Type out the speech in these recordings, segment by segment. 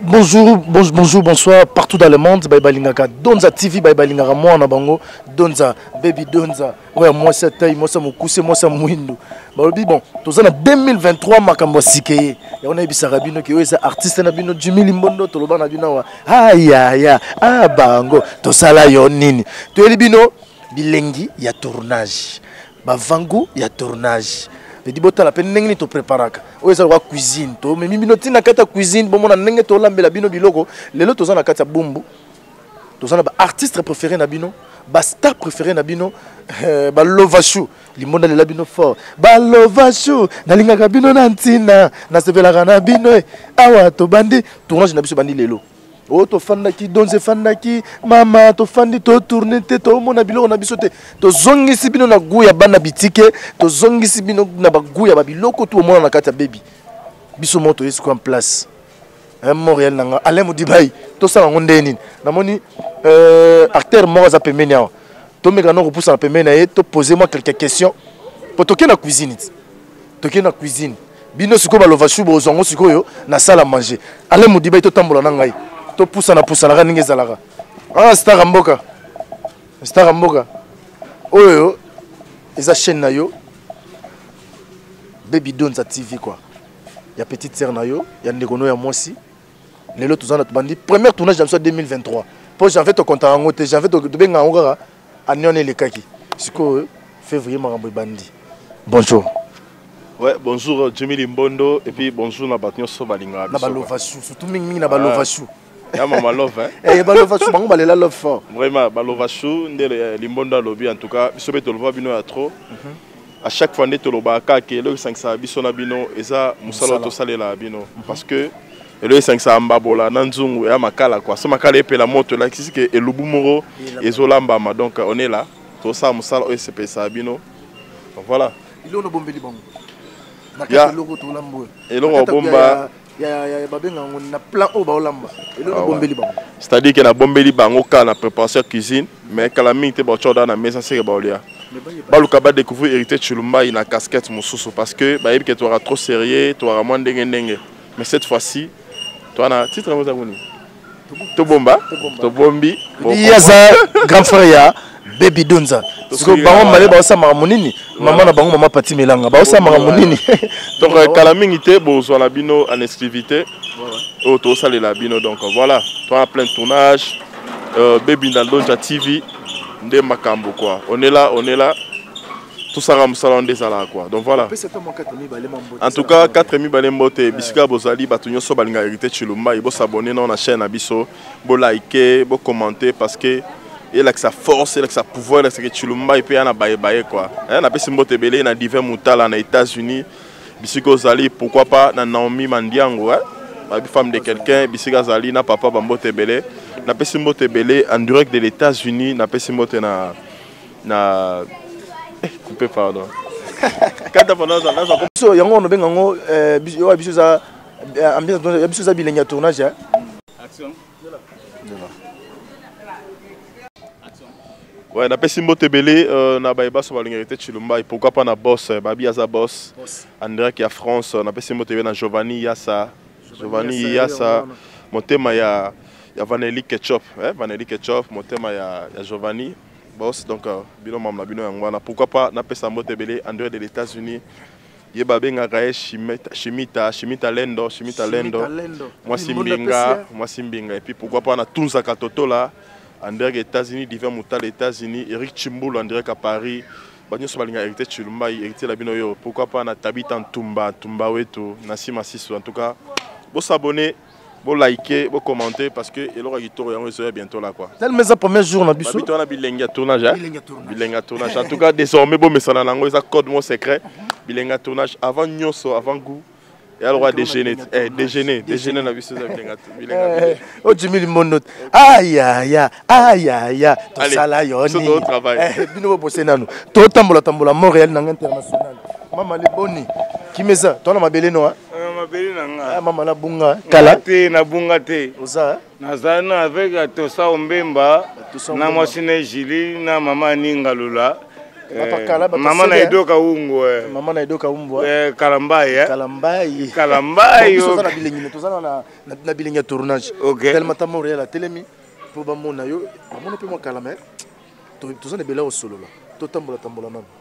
Bonjour, bonjour, bonsoir, partout dans le monde, Baye Balingaka, Donza TV, Baye Balingaka, moi na bango, Donza, Baby Donza, ouais, moi c'est taille, moi c'est mokuse, moi c'est mouindo. Balobi, bon, tous en 2023, makambo sikeye, ya wana ebisa rabino, ki oyo artiste na bino, Jimmy Limbondo, toloba na bino, wa, ah ya ya, ah bango, tosala yo nini, toyeli bino, bilengi ya tournage. bavangu ya tournage edi botala mpe ndenge nini topreparaka oyo eza lokola cuisine tomemi bino ntina kati ya cuisine bomona ndenge tolambela bino biloko lelo toza na kati ya bumbu toza na baartiste préféré na bino bastar préféré na bino eh, balovachou limbo nalela bino fort balovachou nalingaka bino na ntina nasepelaka na bino eh. awa tobandi tournage na biso ebandi lelo oyo oh, tofandaki donze efandaki mama tofandi totourne te tomona biloko na biso te tozongisi bino na gou ya bana bitike tozongisi bino na bagou ya babiloko tu omona na kati ya bebi biso moko toyesi kwa place eh, montréal na nga alain modibai tosala yango ndenge nini namoni euh, acteur moko aza pembeni awa tomeka na kopusana pembeni na ye topose mwa quelque question po tokei na cuisine ti tokei na cuisine bino sikoyo balova shu bozwa yango sikoyo na sala manger ale modibai totambola na ngai topusana pusanaka ndenge ezalaka ah stara mboka stara mboka oyo eza chaîne na yo baby donza tv quoi ya petite sœur na yo ya ndeko no ya mwasi lelo toza na tobandi première tournage na biso ya 2023 mpo janvier tokontaka yango te janvier tobenga yango kaka année wana elekaki sikoyo février makambo ebandi bonjour Ouais, bonjour Jimmy Limbondo et puis bonjour na bato nyonso balingaka biso. Na balova chou, surtout mingi mingi na balova chou. Ya mama love hein. Eh balova chou bango balela love fort. Vraiment balova chou ndele Limbondo alobi en tout cas biso be tolova bino ya trop. Mm -hmm. à chaque fois nde tolobaka kaka ke eloko esangisaka biso na bino eza mosala oyo tosalelaka bino mhm. parce que eloko esangisaka mbabola na nzungu eya makala kua so makala epela moto elakisi ke elubu moko ezolambama donc on est là tosala mosala oyo esepelisaka bino voilà eloko nabombeli bango eloko obomba c'est-à-dire que nabombeli bango kaka na préparation ya cuisine mais kala mingi te baotya oda na mesa seke baolia baluka badécouvrir hérité chilumbai na casquette mosusu parce que bayebi ke toaka trop sérieux toaka mwa ndenge ndenge mais cette fois-ci toana titre yango eza koni tobomba tobombi ye aza grand frère ya baby donza siko bango male baosala makambo nini mama na bango mama pati melanga baosala makambo nini donc euh, kala mingi te bozwa na bino en exclusivité oyo oh, tosalela bino donc voilà toi plein de tournage euh, baby na donja tv nde makambo quoi on est là on est là tosala mosala wana nde ezalaka kua donc voilà en tout cas 4 mibale mbote bisika bozali bato nyonso balinga hérité chilumbai bosabone nao na chaîne na biso bolike bocommente parce que elakisa force elakisa pouvoir elakisa ke chilumbai mpe ya na bayebaye kua eh, napesi mbote ebele na divin mutala na états-unis bisika ozali pourquoi pas na naomi mandiango eh? babi femme de quelqu'un bisika azali na papa bambote ebele napesi mbote ebele en direct de l'états-unis napesi mbote na na eh, coupe pardon kata pardon naza naza biso yango on benga ngo euh, biso ya biso za euh, ambiance ya biso za bilenge ya tournage hein. action Ouais, na pesi mbote belé euh, na baye baso balingaki te Chilumba et pourquoi pas na boss euh, Babi aza boss, boss. André qui a France euh, na pesi mbote na Giovanni Yassa Giovanni Yasa motema ya ya Vanelli Ketchup eh Vanelli Ketchup motema ya ya Giovanni boss donc euh, bino mamla bino yango wana pourquoi pas na pesa mbote belé en dehors de l'États-Unis ye babengaka ye shimita shimita shimita lendo shimita lendo mwasi mbinga mwasi mbinga et puis pourquoi pas na tunzaka totola en direct États-Unis divin mutal États-Unis Eric Chimbulu en direct à Paris banyoso balinga héritier chilumbai héritier la bino yo pourquoi pas na tabita ntumba ntumba wetu na sima sisu en tout cas bo s'abonner bo liker bo commenter parce que eloko ya kitoko yango ezoya bientôt là quoi tellement eza premier jour na biso babito wana bilengi ya tournage hein bilengi ya tournage en tout cas désormais bomesana nango eza code mon secret bilengi ya tournage avant nyoso avant goût ya lokola déjeuner eh déjeuner déjeuner na biso eza bilenga bilenga eh, o jimi limondo aya ya aya ya to sala yo ni eh bino bo bose nanu to tambola tambola Montréal na international mama le boni kimeza to na mabele no ah? eh, mabele na nga eh, mama na bunga kala te na bunga te oza nazali na avec ya tosa ombemba na mwasi na ejili na mama aninga lula eh, mama na edoka ungu eh. mama na edoka umbwa eh, kalambai eh? kalambai kalambai toza na bilengi toza na na bilengi ya tournage okay. tellement ta montréal atelemi mpo bamona yo bamona mpe mwa kalama toza na ebele ya kosolola totambola tambola nano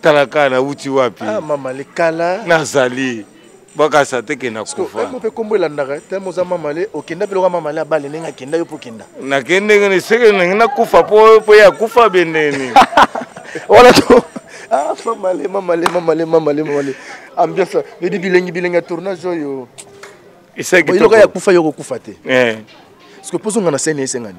tala kaka nauti wapi ah, mama likala nazali bakasa te kenda kufa mpe kombo elandaka te moza mamale okenda mpe loka mamale abale ndenge akenda yo mpo okenda nakende ngene seke ndenge nakufa mpo mpo ye akufa bendeni wana to ah, mamale mamale mamale mamale mamale ambiance edi bilengi bilengi ya tournage oyo esakiloka ya kufa yo okokufa te eh. parce que mpo ozonga na sene esengani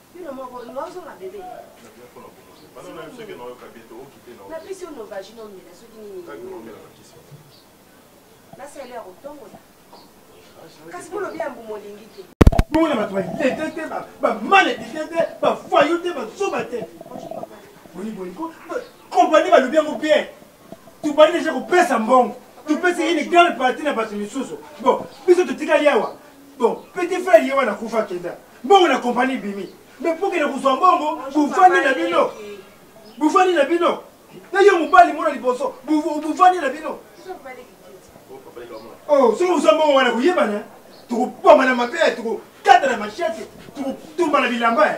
bino moko yo ozonga bebe napesi yo novagi nomela soki nini nasala ya kotongola kasi bolobi ya mbumu olingi te bomona bato balete te bamaledife te bafayo te bazoba te boyiboyiko kompani balobi yango bien tobandi deja kopesa mbongo topesi une grande partie na bato misusu bon biso totikali awa bon petit frère ye wana kufa kenda mbongo na kompani bimi me mpo kende kozwa mbongo bufandi na bino bufandi na bino na yo mobali mona liboso bufandi na bino oh, soki ozwa mbongo wana koyebana tokobwama na mabe tokokata na mashete tokotumba na bilamba eh.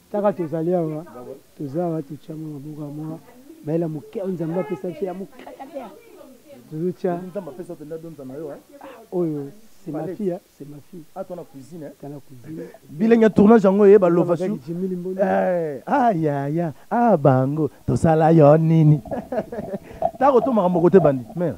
Kaka tozali awa, toza awa, totia mwa maboko ya mwa bayela moke oyo Nzambe apesa biso ya moke tozotya oyo c'est ma fille, c'est ma fille. Ah, toi la cuisine, hein? T'as la cuisine. Bilingue tournage yango ye ba lova su. Eh, ah ya ya, ah bango, to sala yo nini. Ta ko to makambo côté bandi. Mère.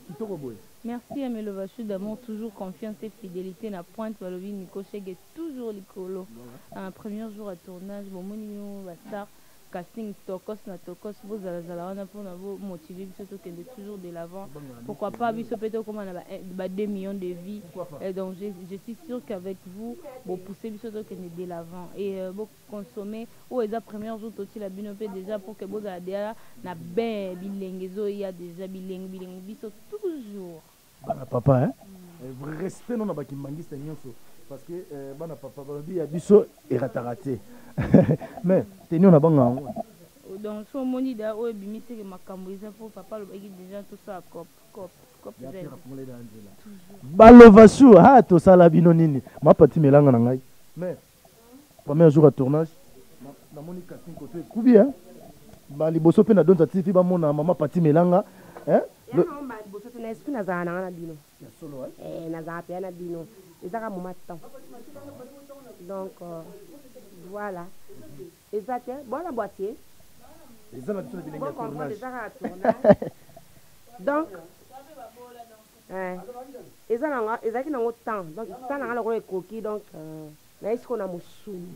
Kitoko boye. Merci à Melova Chou d'amour, toujours confiance et fidélité na pointe balobi Nico Cheguet. toujours likolo uh, premier jour ya tournage bomoni bino ba star casting tokos na tokos bozalazala wana mpona bomotive biso tokende toujours de l'avant pourquoi pas biso mpe tokóma na ba 2 millions de vie et donc je, je suis sûr qu'avec vous bopousse biso tokende de l'avant et euh, boconsommer oyo eza première jour totila bino mpe déjà pour que bozala deja na bain bilenge ezoya déjà bilenge bilenge biso toujours bana papa hein? Eh, respect nona bakimbangiste nyonso parce que eh, bana papa balobi ya biso erataka te mais tenio na bango yango donc so omoni da oyo ebimiseke makambo eza mpo papa alobaki deja tosala cop cop balova sur ha tosala bino nini mapati melanga na ngai mais Premier jour à tournage, na moni casting koto ekubi hein. Ba liboso pe na donza TV ba mona maman Pati Melanga hein. Le... Ba liboso te na esprit na zala na na bino. Ya solo hein. Eh na zala pe na bino. Ezaka moma temps. Donc euh, voilà. Eza te bona boîtier. Eza na biso na bilenge tournage. Donc Eh, eza na nga ezalaki nango temps donc temps na nga lokola ekoki donc euh, naye siko na mosuni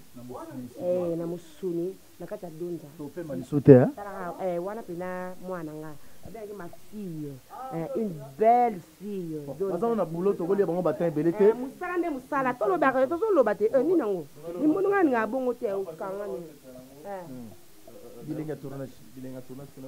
eh, na mosuni na kati ya donza topema lisu te hein? talaka eh, wana mpena mwana na nga abengaki ma fille eh, une belle fille Donza. bazango na boulot tokolia bango batin ebele te Eh, mosala nde mosala tolobaka yo tozoloba te eh, nini yango limbondo ngai ninga bongo te okanga nini Eh. bilenga tournage bilenga tournage kuna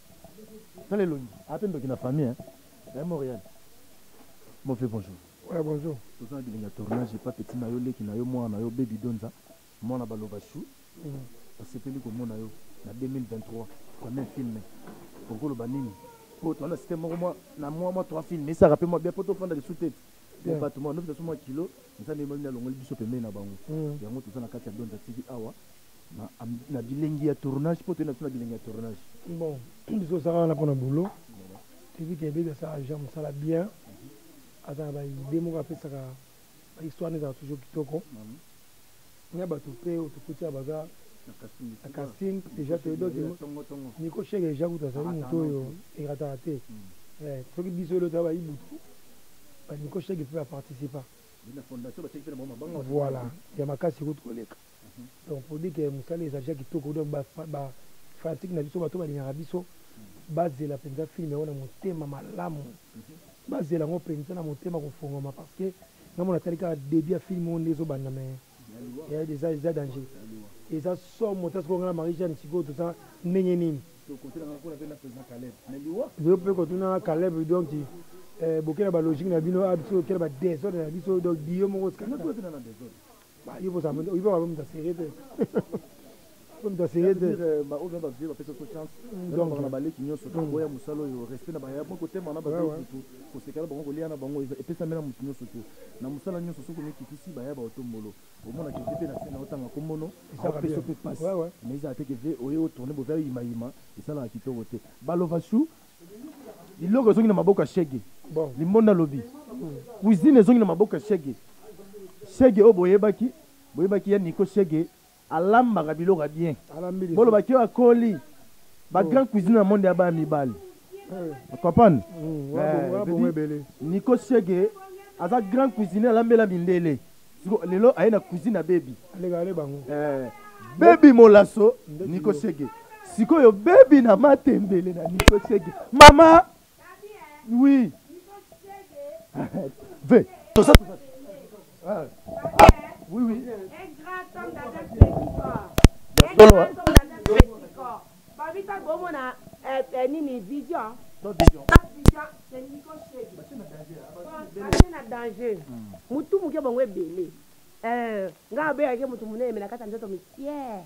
Tala elongi. Ape ndoki na famille hein. Eh Montréal. Mon vieux bonjour. Ouais bonjour. Toza na bilinga tournage pas petit na yo leki na yo mwana na yo baby donza mwana baloba chou. Mm. Asepeli komona yo na 2023 kwa même film. Okoloba nini? Po toana site moko mwa na mwa mwa trois films esaka pe mwa bien po tofanda lisu te. Bien. bato mwa nofisa so mwa kilo nzambe yemamini alongoli biso pembeni na bango Mm. yango toza na kati ya donda tv awa na, am- na bilengi ya tournage mpo toyei na biso na bilengi ya tournage bon biso osaka wana mpona boulot tv kebedi asala agent mosala bien aza na baide moko apesaka bahistoire nde ezala toujours kitoko na bato mpe oyo tokuti awa baza na casting deja toyebi donc niko sheke deja kutu azali moto oyo erataka te eh, soki biso elo toya bayibutu baniko sheke mpe baparticipa voilà ya makasi kutu koleka mhm. donc pour dire ke mosala ezali ja kitoko donc bafanatike na biso bato balingaka biso mhm. bazela mpenza filme yango na motema malamu mhm. bazela yango mpenza na motema kofongama parce que nga mona tali kaka debut ya film oyo nde ezo banda mais eh, eza eza danger eza somo ta sikoyo nga na Marie Jeanne sikoyo toza ndenge nini yo mpe kotunanga Caleb donc eh, bokela ba logique na bino a ah, biso okela ba desordre na biso donc dio moko Bah, yo boza yo boza bomi da serré te. Bomi da serré te. Ba oyo ba vie ba pesa ko chance. Donc na baleki nyoso to boya musalo yo respect na ba ya ko tema na ba zo tout. Ko sekala bango ko lia na bango e pesa mena mutu nyoso te. Na musala nyoso soko mi kitisi ba ya ba otombolo. Au moins na kiti pe na sena otanga komono. Ko pesa pe passe. Mais ils a été que oyo tourner bo va yima yima. Esala kitoko te. Balova chou biloko ezongi na maboko ya shege bon. limbonda lobi mm. cuisine ezongi na maboko ya shege shege oyo boyebaki boyebaki ya niko shege alambaka biloko ya bien bolobaki oyo akoli bagrand oh. cuisine na monde ya baya mibali eh. comprendre mm, eh, niko shege aza grand cuisine alambela mindele siko lelo aye na cuisine ya bebi alekale bango eh, bebi molaso niko sege sikoyo bebi na matembele na niko sege mama oui ve tosa ah. oui oui solo Babita bomo na eh, eh, nini vision. Ba vision. Ba vision c'est Nico Shege. Ba na danger. Ba na danger. Hmm. Mutu muke bango ebele. Euh, nga be yake mutu munene mais na kata nzoto misière.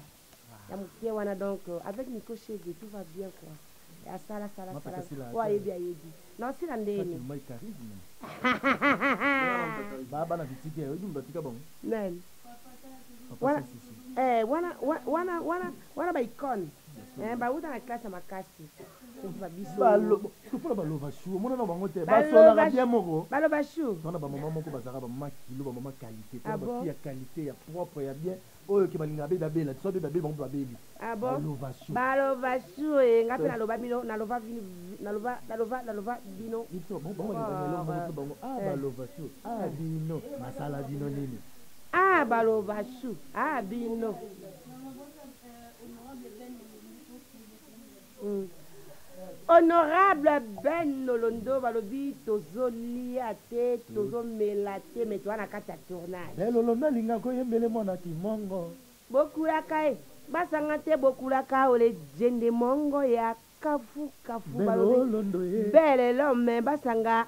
Ah. Ya mukie wana donc euh, avec Nico Shege tout va bien quoi. Asala sala sala. Wa yebi ayebi. Non sila ndeni. Ba bana kitike oyebi mutu atika bango. Nani? Wana eh wana wana wana wana ba icône. Eh ba uta na classe makasi. Ba biso. Ba lo sukula ba lova chou mona na bango te. Ba sola ba bien moko. Ba lova chou. Wana ba maman moko bazaka ba maman kilo ba maman qualité. Ah ba fille ya qualité ya propre ya bien. Oyo ke balingaka bebe abela te soit bebe abeli bango mpe babeli. Ah bon? Ba lovachou eh nga pe na loba bino na lova vino na lova na lova na lova bino. Biso bon bon na lova bango bango ah ba lovachou ah bino masala bino nini? Ah ba lovachou ah bino. Honorable Ben Nolondo balobi tozo lia te tozo mela te mais toza na kati ya tournage. Ben Lolondo alingaka oyembele mwana kimongo. Bokulaka eh basanga te bokulaka oh le djende mongo ya kafu kafu balobi belle l'homme basanga.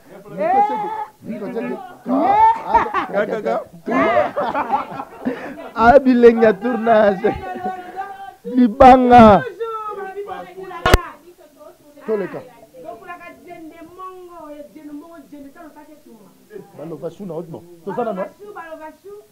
a bilenge ya tournage libanga toleka baloba su na odmo toza nano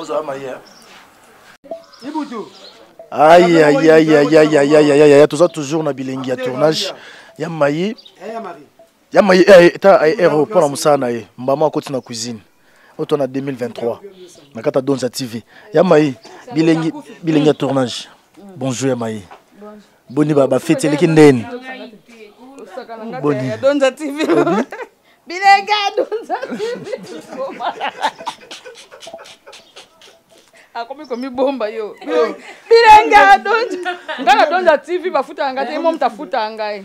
ozala maye ibutu ayayayayayayaya toza toujours na bilengi ya tournage ya mayi ya maye eh, eh, ta eh, hero mpo na mosala na ye mbama akoti na cuisine oyo to na 2023 na kata donza tv ya maye bilengi bilengi ya tournage bonjour ya maye boni bafeti eleki ndeni boni bilengi ya donza tv akomi komibomba yo bilenge adonja ngai nadonja tv bafutaka ngai te ye momo tafutaka ngai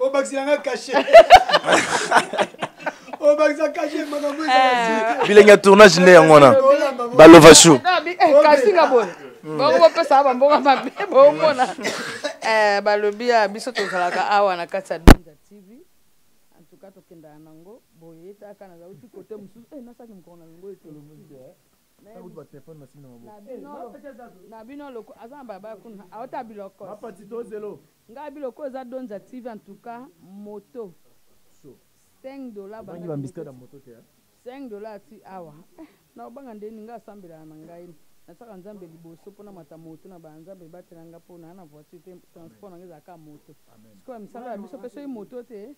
obakisela nga kashe obakisa kashe makambo eh. bilenge ya tournage nde yango wana balova shu eh, kasinga boye hmm. bango bapesaka bambongo mabe bomona eh, balobi ya biso tozalaka awa na kati ya binza tv antuka tokendaka nango boye taka nazauti kote mosusu nasaki mokolo na yango ete na bino loko aza na balabala kuna auta biloko Nga biloko oyo eza dondja TV en tout cas moto Chaud 5 dollars ba nga bimisa na moto te hein 5 dollars ti awa eh na obanga ndeni nga asambela na ngai na saka nzambe liboso pona mata moto na ba nzambe batela nga pona na voiture te transport na nga eza ka moto sikoyo misala ya biso pe soki moto te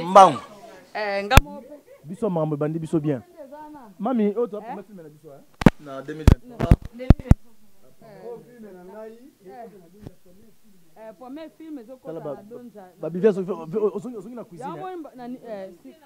mbangu eh, biso makambo ebandi biso bien mami oyo toza promete filme na biso eh? na 2023 babivia ozongi na cuisine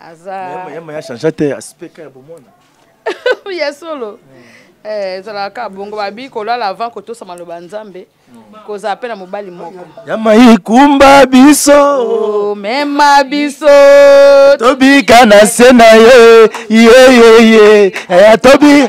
aza Mais yama ya changea te aspect ka ya bomwana ya solo Eh, ezalaka kaka bongo babi kolala avant kotosa maloba ya nzambe kozala mpe na mobali moko yama ikumba biso Oh, mema biso tobika na se na ye yeyeye tobi